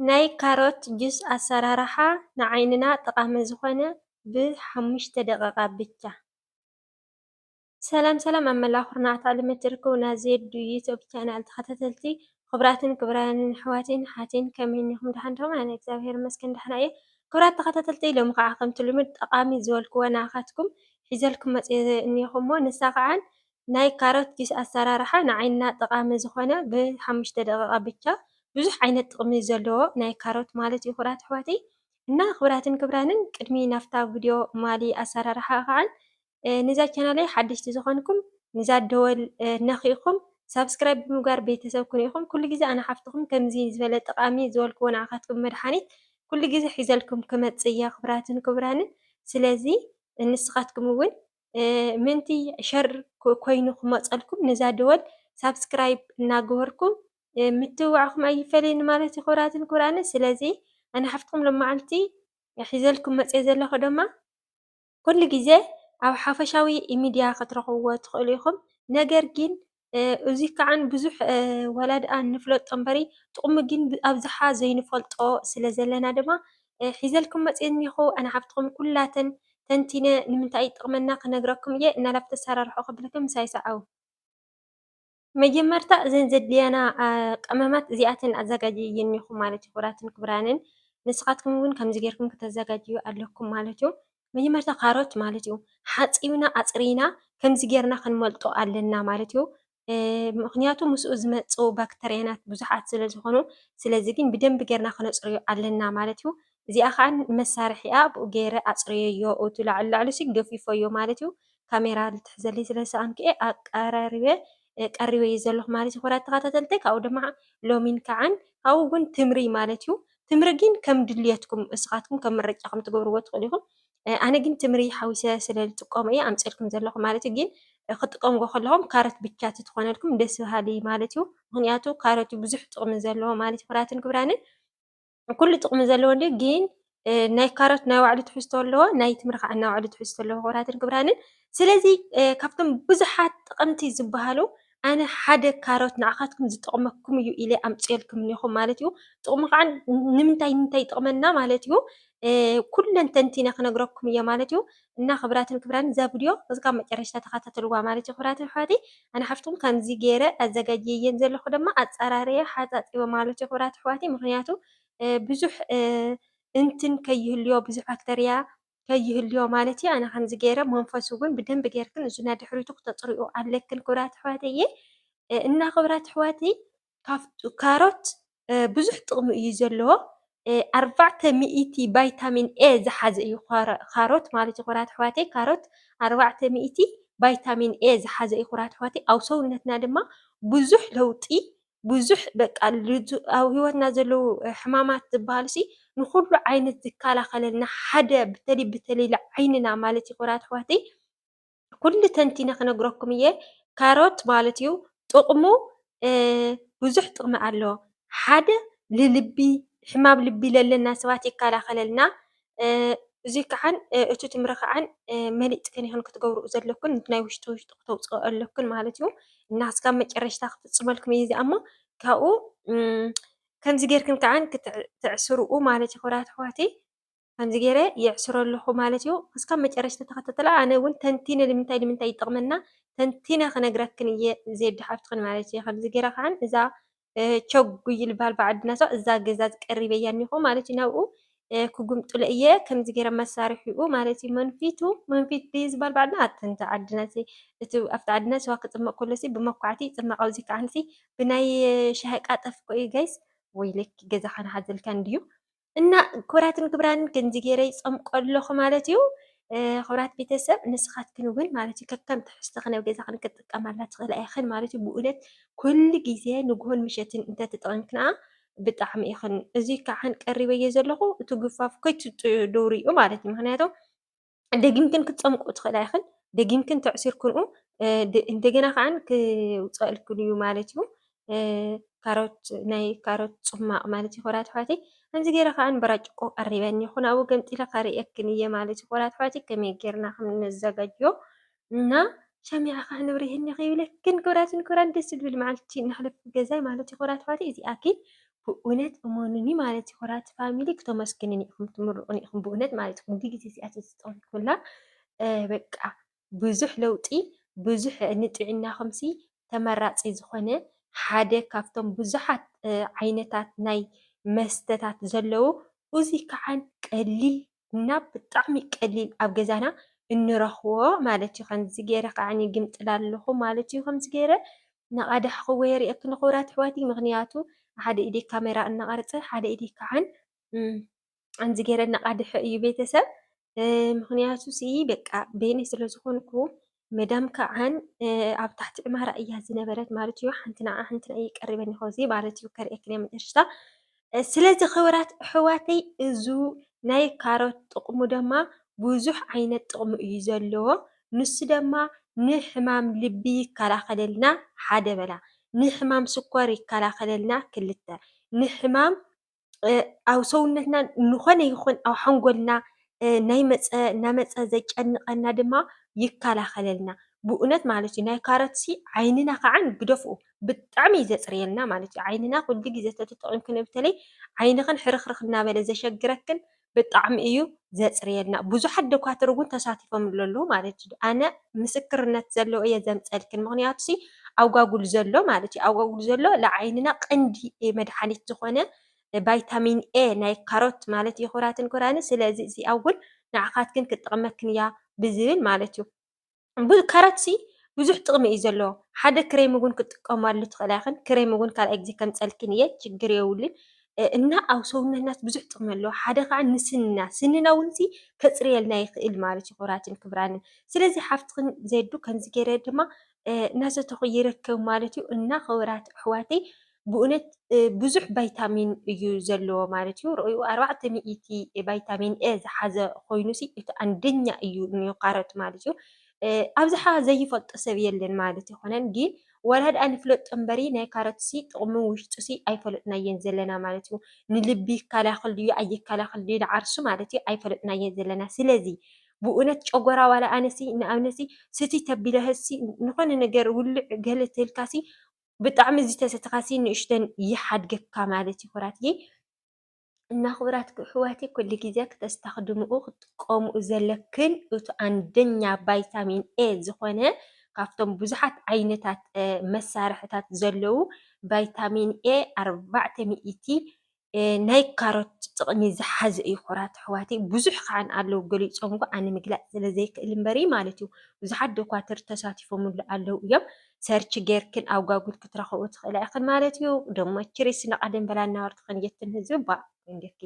ናይ ካሮት ጁስ ኣሰራርሓ ንዓይንና ጠቃሚ ዝኮነ ብ ሓሙሽተ ደቂቃ ብቻ። ሰላም ሰላም ኣብ መላእ ኩርናዓት ዓለም እትርከቡ ናይ ዜዱ ዮቱብ ቻናል ተከታተልቲ ክቡራትን ክቡራን ኣሕዋተይን ኣሓተይን ከመይ እኒኩም ዳሓን ዲኩም ኣነ እግዚኣብሔር ይመስገን ዳሓን እየ ክቡራት ተከታተልተይ ሎሚ ካዓ ከምቲ ልሙድ ጠቃሚ ዝበልክዋ ናዓካትኩም ሒዘልኩም መፅየ እኒኩ እሞ ንሳ ካዓ ናይ ካሮት ጁስ ኣሰራርሓ ንዓይንና ጠቃሚ ዝኮነ ብሓሙሽተ ደቂቃ ብቻ ብዙሕ ዓይነት ጥቅሚ ዘለዎ ናይ ካሮት ማለት እዩ ክቡራት ኣሕዋተይ እና ክቡራትን ክቡራንን ቅድሚ ናብታ ቪድዮ ማሊ ኣሰራርሓ ክዓን ንዛ ቻናለይ ሓደሽቲ ዝኮንኩም ንዛ ደወል ነኪእኩም ሳብስክራይብ ብምግባር ቤተሰብ ኩኑ ኢኩም ኩሉ ግዜ ኣነ ሓፍትኩም ከምዚ ዝበለ ጠቃሚ ዝበልክዎ ንዓካትኩም መድሓኒት ኩሉ ግዜ ሒዘልኩም ክመፅእ እየ ክቡራትን ክቡራንን ስለዚ ንስካትኩም እውን ምእንቲ ሸር ኮይኑ ክመፀልኩም ነዛ ደወል ሳብስክራይብ እናገበርኩም ምትብባዕኩም ኣይፈለየኒ ማለት እዩ ክብራትን ክብራነ ስለዚ ኣነ ሓፍትኩም ሎማዓንቲ ሒዘልኩም መፅየ ዘለኹ ደማ ኩሉ ግዜ ኣብ ሓፈሻዊ ሚድያ ክትረኽብዎ ትኽእሉ ኢኹም ነገር ግን እዙይ ከዓ ብዙሕ ዋላ ድኣ ንፍለጦ እምበሪ ጥቅሙ ግን ብኣብዝሓ ዘይንፈልጦ ስለ ዘለና ድማ ሒዘልኩም መፂየ እኒሀኹ። ኣነ ሓፍትኹም ኩላተን ተንቲነ ንምንታይ ይጠቅመና ክነግረኩም እየ። እና ላብ ተሰራርሑ ከብለኩም ምሳይ ሰዓቡ። መጀመርታ እዘን ዘድልያና ቀመማት እዚኣተን ኣዘጋጅየ እኒሀኹ ማለት እዩ። ክቡራትን ክቡራንን ንስኻትኩም እውን ከምዚ ገይርኩም ክተዘጋጅዉ ኣለኩም ማለት እዩ። መጀመርታ ካሮት ማለት እዩ ሓፂብና ኣፅሪና ከምዚ ገይርና ክንመልጦ ኣለና ማለት እዩ። ምኽንያቱ ምስኡ ዝመፁ ባክተርያናት ብዙሓት ስለ ዝኾኑ ስለዚ ግን ብደንቢ ገይርና ክነፅርዮ ኣለና ማለት እዩ። እዚኣ ከዓ መሳርሒ እያ ብኡ ገይረ ኣፅርየዮ እቲ ላዕሉ ላዕሉ ገፊፈዮ ማለት እዩ። ካሜራ ክትሕዘለይ ስለ ዝሰኣንኩ እየ ኣቀራሪበ። ቀሪበ እዩ ዘለኹ ማለት እዩ ክቡራት ተኸታተልተይ ካብኡ ድማ ሎሚን ከዓን ካብኡ እውን ትምሪ ማለት እዩ ትምሪ ግን ከም ድልየትኩም እስኻትኩም ከም ምርጫኹም ትገብርዎ ትኽእሉ ኢኹም ኣነ ግን ትምሪ ሓዊሰ ስለ ዝጥቀሙ እየ ኣምፅልኩም ዘለኹ ማለት እዩ ግን ክትጥቀምዎ ከለኹም ካሮት ብቻ ትኾነልኩም ደስ በሃሊ ማለት እዩ ምክንያቱ ካሮት ብዙሕ ጥቕሚ ዘለዎ ማለት እዩ ክቡራትን ክቡራንን ኩሉ ጥቅሚ ዘለዎ እንድዩ ግን ናይ ካሮት ናይ ባዕሉ ትሕዝቶ ኣለዎ ናይ ተምሪ ካዓ ናይ ባዕሉ ትሕዝቶ ኣለዎ ክቡራትን ክቡራንን ስለዚ ካብቶም ብዙሓት ጥቅምቲ ዝባሃሉ ኣነ ሓደ ካሮት ንዓካትኩም ዝጠቅመኩም እዩ ኢለ ኣምፂኤልኩም እኒሀኩ ማለት እዩ ጥቅሙ ካዓ ንምንታይ ንምንታይ ይጠቅመና ማለት እዩ ኩለን ተንቲነ ክነግረኩም እየ ማለት እዩ። እና ክብራትን ክብራን እዛ ቭድዮ እስካብ መጨረሽታ ተካታተልዋ ማለት እዩ ክብራተይ ኣሕዋተይ ኣነ ሓፍትኩም ከምዚ ገይረ ኣዘጋጅየየን ዘለኩ ደማ ኣፃራርየ ሓፃፂበ ማለት እዩ ክብራት ኣሕዋተይ ምክንያቱ ብዙሕ እንትን ከይህልዮ ብዙሕ ባክተርያ ከይህልዮ ማለት እዩ ኣነ ከምዚ ገይረ መንፈሱ እውን ብደንብ ገይርክን እዙና ድሕሪቱ ክተፅሪኡ ኣለክን ክብራት ኣሕዋተይ እና ክብራት ኣሕዋተይ ካሮት ብዙሕ ጥቕሚ እዩ ዘለዎ። ኣርባዕተ ሚእቲ ቫይታሚን ኤ ዝሓዘ እዩ ኻሮት ማለት እዩ። ኩራት ኣሕዋተይ ካሮት ኣርባዕተ ሚእቲ ቫይታሚን ኤ ዝሓዘ እዩ ኩራት ኣሕዋተይ። ኣብ ሰውነትና ድማ ብዙሕ ለውጢ ብዙሕ በቃ ኣብ ህይወትና ዘለዉ ሕማማት ዝበሃሉሲ ንኹሉ ዓይነት ዝከላኸለልና ሓደ ብተለይ ብተለይ ንዓይንና ማለት እዩ ኩራት ኣሕዋተይ። ኩሉ ተንቲነ ክነግረኩም እየ። ካሮት ማለት እዩ ጥቕሙ ብዙሕ ጥቕሚ ኣለዎ። ሓደ ንልቢ ሕማም ልቢ ለለና ሰባት ይከላኸለልና። እዙይ ከዓ እቲ ትምሪ ከዓ መሊእክን ኢኽን ክትገብርኡ ዘለክን እቲ ናይ ውሽጢ ውሽጢ ክተውፅኦ ኣለክን ማለት እዩ። እና እስካብ መጨረሽታ ክፍፅመልኩም እየ እዚኣ እሞ ካብኡ ከምዚ ጌርክን ከዓ ትዕስርኡ ማለት እዩ ክብራት ኣሕዋተይ። ከምዚ ገይረ የዕስሮ ኣለኹ ማለት እዩ። እስካብ መጨረሽታ ተኸታተላ ኣነ እውን ተንቲነ ንምንታይ ንምንታይ ይጠቕመና ተንቲነ ክነግረክን እየ ዜድ ሓፍትኽን ማለት እዩ። ከምዚ ገይረ ከዓ እዛ ቸጉይ ዝበሃል ብዓድና ሰው እዛ ገዛ ቀሪበያ እኒኹ ማለት እዩ ናብኡ ክጉምጥሎ እየ ከምዚ ገይረ መሳርሒኡ ማለት እዩ መንፊቱ መንፊት ድዩ ዝበሃል ብዓድና ኣትንተ ዓድና እቲ ኣብቲ ዓድና ስዋ ክፅመቕ ከሎ ሲ ብመኳዕቲ ይፅመቕ ኣብዚ ከዓ ብናይ ሻሂ ቃጠፍ እኮ እዩ ጋይስ ወይለኪ ገዛኻን ሓዘልካን ድዩ እና ክብራትን ክብራን ክንዚ ገይረ ይፀምቆ ኣለኹ ማለት እዩ። ክብራት ቤተሰብ ንስኻትክን እውን ማለት እዩ ከከም ትሕዝቶኽን ኣብ ገዛኽን ክትጥቀማላ ትኽእላ ኢኽን ማለት እዩ። ብእውነት ኩሉ ግዜ ንግሆን ምሸትን እንተትጠቐምክና ብጣዕሚ ኢኽን። እዚ ከዓን ቀሪበዮ ዘለኹ እቲ ጉፋፍ ከይትጥኡ ዶርኡ ማለት እዩ። ምክንያቱ ደጊምክን ክትፀምቁ ትኽእላ ኢኽን ደጊምክን ተዕሲርክንኡ እንደገና ኸዓ ክውፀኣልክን እዩ ማለት እዩ። ካሮት ናይ ካሮት ፅሟቕ ማለት እዩ ኾራት ኣሕዋተይ ከምዚ ገይረ ከዓ በራጭቆ ቀሪበ እኒሀኹ ናብኡ ገምጢለ ከርእየክን እየ ማለት እዩ ኾራት ኣሕዋተይ ከመይ ገይርና ከም እነዘጋጅዮ እና ሻምያ እካ ንብሪ ህኒ ከይብለክን ክብራትን ክብራን ደስ ዝብል መዓልቲ ነሕልፍ ብገዛይ ማለት ኩብራ ኣሕዋተይ እዚኣኪ ብኡነት እመኑኒ ማለት ኩብራ ፋሚሊ ክተመስግንኒ ኢኩም ትምርቁኒ ኢኩም ብኡነት ማለት ኢኩም እዚ ግዜ እዚኣ ተዝተጠቅምኩላ በቃ ብዙሕ ለውጢ ብዙሕ ንጥዕናኩም ሲ ተመራጺ ዝኮነ ሓደ ካብቶም ብዙሓት ዓይነታት ናይ መስተታት ዘለዉ እዚ ከዓ ቀሊል እና ብጣዕሚ ቀሊል ኣብ ገዛና እንረኽቦ ማለት እዩ። ከምዚ ገይረ ከዓ ይግምጥላ ኣለኹ ማለት እዩ። ከምዚ ገይረ እናቐዳሕክዎ የርእየክን ክቡራት ኣሕዋተይ ምኽንያቱ ሓደ ኢደይ ካሜራ እናቐረፀ ሓደ ኢደይ ከዓን ከምዚ ገይረ እናቓድሐ እዩ ቤተሰብ ምኽንያቱ ስኢ በቃ በይነይ ስለዝኾንኩ መዳም ከዓን ኣብ ታሕቲ ዕማራ እያ ዝነበረት ማለት እዩ። ሓንቲ ንዓ ሓንቲ ንዕይ ቀሪበን ይኸዚ ማለት እዩ ከርእክን እየ መጨረሽታ። ስለዚ ክብራት ኣሕዋተይ እዙ ናይ ካሮት ጥቕሙ ድማ ብዙሕ ዓይነት ጥቕሙ እዩ ዘለዎ። ንሱ ድማ ንሕማም ልቢ ይከላኸለልና ሓደ በላ፣ ንሕማም ስኮር ይከላኸለልና ክልተ፣ ንሕማም ኣብ ሰውነትና ዝኾነ ይኹን ኣብ ሓንጎልና ናይ መፀ እናመፀ ዘጨንቐና ድማ ይከላኸለልና። ብእውነት ማለት እዩ ናይ ካሮት ሲ ዓይንና ከዓ ግደፍኡ ብጣዕሚ እዩ ዘፅርየልና ማለት እዩ። ዓይንና ኩሉ ግዜ ተተጠቒምክንዮ በተለይ ዓይንኽን ሕርኽርኽ እናበለ ዘሸግረክን ብጣዕሚ እዩ ዘፅርየልና ብዙሓት ደኳትር እውን ተሳቲፎምሉ ኣለዉ ማለት እዩ። ኣነ ምስክርነት ዘለዎ እየ ዘምፀልክን ምክንያቱ ሲ ኣጓጉል ዘሎ ማለት እዩ ኣጓጉል ዘሎ ንዓይንና ቀንዲ መድሓኒት ዝኾነ ቫይታሚን ኤ ናይ ካሮት ማለት እዩ ክብራትን ክብራን ስለዚ እዚ ኣጉል ንዓኻትክን ክጠቕመክን እያ ብዝብል ማለት እዩ። ካራትሲ ብዙሕ ጥቕሚ እዩ ዘለዎ ሓደ ክሬም እውን ክትጥቀማሉ ትኽእላ ኢኽን ክሬም እውን ካልኣይ ግዜ ከምፀልክን እየ ችግር የብሉን እና ኣብ ሰውነትና ብዙሕ ጥቕሚ ኣለዎ ሓደ ከዓ ንስንና ስንና እውን ከፅርየልና ይኽእል ማለት እዩ ክብራትን ክብራንን ስለዚ ሓፍትኽን ዜዱ ከምዚ ገይረ ድማ እናሰተኹ ይርከብ ማለት እዩ እና ክብራት ኣሕዋተይ ብኡነት ብዙሕ ቫይታሚን እዩ ዘለዎ ማለት እዩ። ርኣዩ ኣርባዕተ ሚእቲ ቫይታሚን ኤ ዝሓዘ ኮይኑ ሲ እቲ ኣንደኛ እዩ ንካሮት ማለት እዩ። ኣብዝሓ ዘይፈልጦ ሰብ የለን ማለት ኣይኮነን ግን ዋላ ድኣ ንፍለጦ እምበሪ ናይ ካሮት ሲ ጥቕሙ ውሽጡ ሲ ኣይፈለጥናዮን ዘለና ማለት እዩ። ንልቢ ይከላኸል ድዩ ኣይከላኸል ድዩ ንዓርሱ ማለት እዩ ኣይፈለጥናዮን ዘለና። ስለዚ ብኡነት ጨጎራ ዋላ ኣነ ሲ ንኣብነት ሲ ስትይ ተቢለ ሲ ንኾነ ነገር ውልዕ ገለ ተልካ ሲ ብጣዕሚ ዝተሰተኻሲ ንእሽተን ይሓድገካ ማለት እዩ ኩራትየ እና ክቡራት ኣሕዋተይ ኩሉ ግዜ ክተስተኽድምኡ ክትጥቀምኡ ዘለክን እቲ ኣንደኛ ቫይታሚን ኤ ዝኾነ ካብቶም ብዙሓት ዓይነታት መሳርሕታት ዘለዉ ቫይታሚን ኤ ኣርባዕተ ሚእቲ ናይ ካሮት ጥቕሚ ዝሓዘ እዩ ኩራት ኣሕዋተይ ብዙሕ ከዓ ኣለዉ ገሊፆምዎ ኣነ ምግላፅ ስለዘይክእል እምበር እዩ ማለት እዩ ብዙሓት ዶኳትር ተሳቲፎምሉ ኣለዉ እዮም ሰርች ጌርክን ኣብ ጓጉል ክትረኽቦ ትኽእላ ኢኽን ማለት እዩ ደሞ ችሪስ ንቐደም በላ እናወርድኽን የትን ህዝቢ ባ እንጌርኪ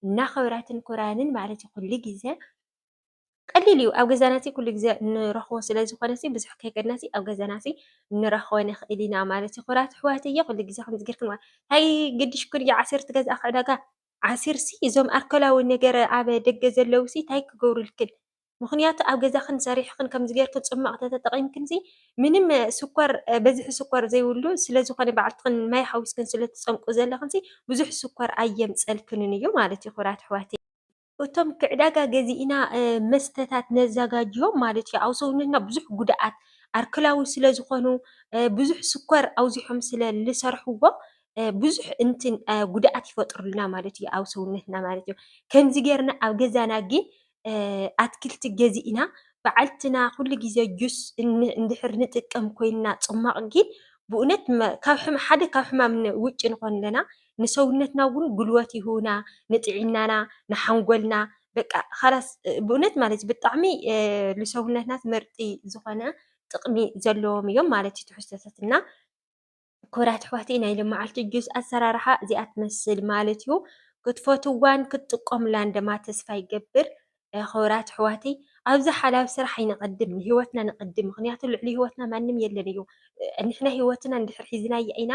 እና ክብራትን ኩራንን ማለት እዩ ኩሉ ግዜ ቀሊል እዩ ኣብ ገዛና ኩሉ ግዜ እንረኽቦ ስለዝኾነ ብዙሕ ከይከድና ኣብ ገዛና ክንረኽቦ ንኽእል ኢና ማለት እዩ። ክቡራት ኣሕዋተየ ኩሉ ግዜ ከምዚ ጌርክን ታይ ግድሽ ኩሉ ግዜ ዓሲር ትገዝኣ ካብ ዕዳጋ ዓሲር ሲ እዞም ኣልኮላዊ ነገር ኣብ ደገ ዘለዉ ሲ ታይ ክገብሩልክን ምኽንያቱ ኣብ ገዛኽን ሰሪሕኽን ከምዚ ጌርክን ፅሟቕ እንተተጠቒምክን ሲ ምንም ስኳር ብዝሒ ስኳር ዘይብሉ ስለዝኾነ ባዕልትኽን ማይ ሓዊስክን ስለትፀምቁ ዘለኽን ሲ ብዙሕ ስኳር ኣየምፅኣልክንን እዩ ማለት እዩ ክቡራት ኣሕዋተይ። እቶም ክዕዳጋ ገዚእና መስተታት ነዛጋጅዮም ማለት እዩ። ኣብ ሰውነትና ብዙሕ ጉድኣት ኣርክላዊ ስለ ዝኾኑ ብዙሕ ስኳር ኣብዚሖም ስለ ልሰርሕዎ ብዙሕ እንትን ጉድኣት ይፈጥሩልና ማለት እዩ ኣብ ሰውነትና ማለት እዩ። ከምዚ ጌርና ኣብ ገዛና ግን ኣትክልቲ ገዚእና ባዕልትና ኩሉ ግዜ ጁስ እንድሕር ንጥቀም ኮይና ፅሟቕ ግን ብእውነት ካብ ሓደ ካብ ሕማም ውጪ ንኾን ኣለና። ንሰውነትና እውን ጉልበት ይህቡና ንጥዕናና ንሓንጎልና በቃ ኻላስ ብእውነት ማለት እዩ ብጣዕሚ ንሰውነትና ትምህርቲ ዝኾነ ጥቕሚ ዘለዎም እዮም ማለት እዩ ትሕዝቶታት እና ክቡራት ኣሕዋተይ ናይ ሎማዓንቲ ጁስ ኣሰራርሓ እዚኣ ትመስል ማለት እዩ። ክትፈትዋን ክትጥቀሙላን ድማ ተስፋ ይገብር። ኽብራት ኣሕዋተይ ኣብዚ ሓላል ስራሕ ኣይንቀድም ንሂወትና ነቀድም ምክንያቱ ልዕሊ ሂወትና ማንም የለን እዩ ንሕና ሂወትና እንድሕር ሒዝናያ ኢና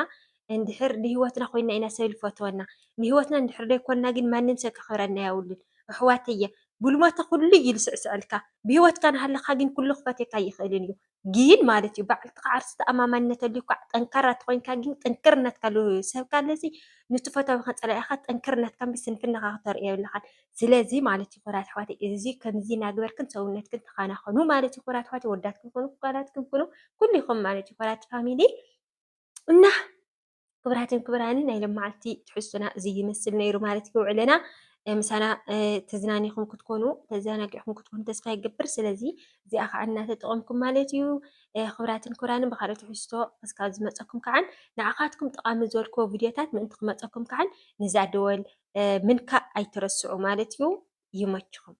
እንድሕር ንሂወትና ኮይና ኢና ሰብ ዝፈትወና ንሂወትና እንድሕር ዘይኮና ግን ማንም ሰብ ከክብረና የብሉን ኣሕዋተየ ብልሞተ ኩሉ እዩ ዝስዕስዐልካ ብሂወትካ ናሃለካ ግን ኩሉ ክፈትየካ ኣይክእልን እዩ ግን ማለት እዩ ባዕልቲ ከዓ ርእስ ተኣማማንነት ኣልዩካ ጠንካራ ተኾይንካ ግን ጥንክር እናትካ ሰብካ ኣለዚ ንቲ ፈታዊኻ ፀላኢኻ ጥንክር እናትካ እምበይ ስንፍናኻ ክተርእዮ የብልኻን። ስለዚ ማለት እዩ ክቡራት ኣሕዋተይ እዚ ከምዚ እናገበርክን ሰውነትክን ተኸናኸኑ ማለት እዩ ክቡራት ኣሕዋተይ ወዳትክን ኩኑ ጓላትክን ኩኑ ኩሉኹም ማለት እዩ ክቡራት ፋሚሊ እና ክብራትን ክብራን ናይ ለማዓልቲ ትሕዝቶና እዚ ይመስል ነይሩ ማለት እዩ። ውዕለና ምሳና ተዝናኒኹም ክትኮኑ ተዘናጊዕኹም ክትኮኑ ተስፋ ይገብር። ስለዚ እዚኣ ከዓ እናተጠቐምኩም ማለት እዩ። ክብራትን ክብራንን ብካልኦት ትሕዝቶ እስካብ ዝመፀኩም ከዓ ንዓኻትኩም ጠቓሚ ዝበልክዎ ቪድዮታት ምእንቲ ክመፀኩም ከዓ ነዛ ደወል ምንካእ ኣይትረስዑ ማለት እዩ። ይመችኹም።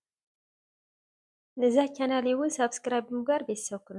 ነዛ ቻናል እውን ሳብስክራይብ ብምግባር ቤተሰብ ኩኑ።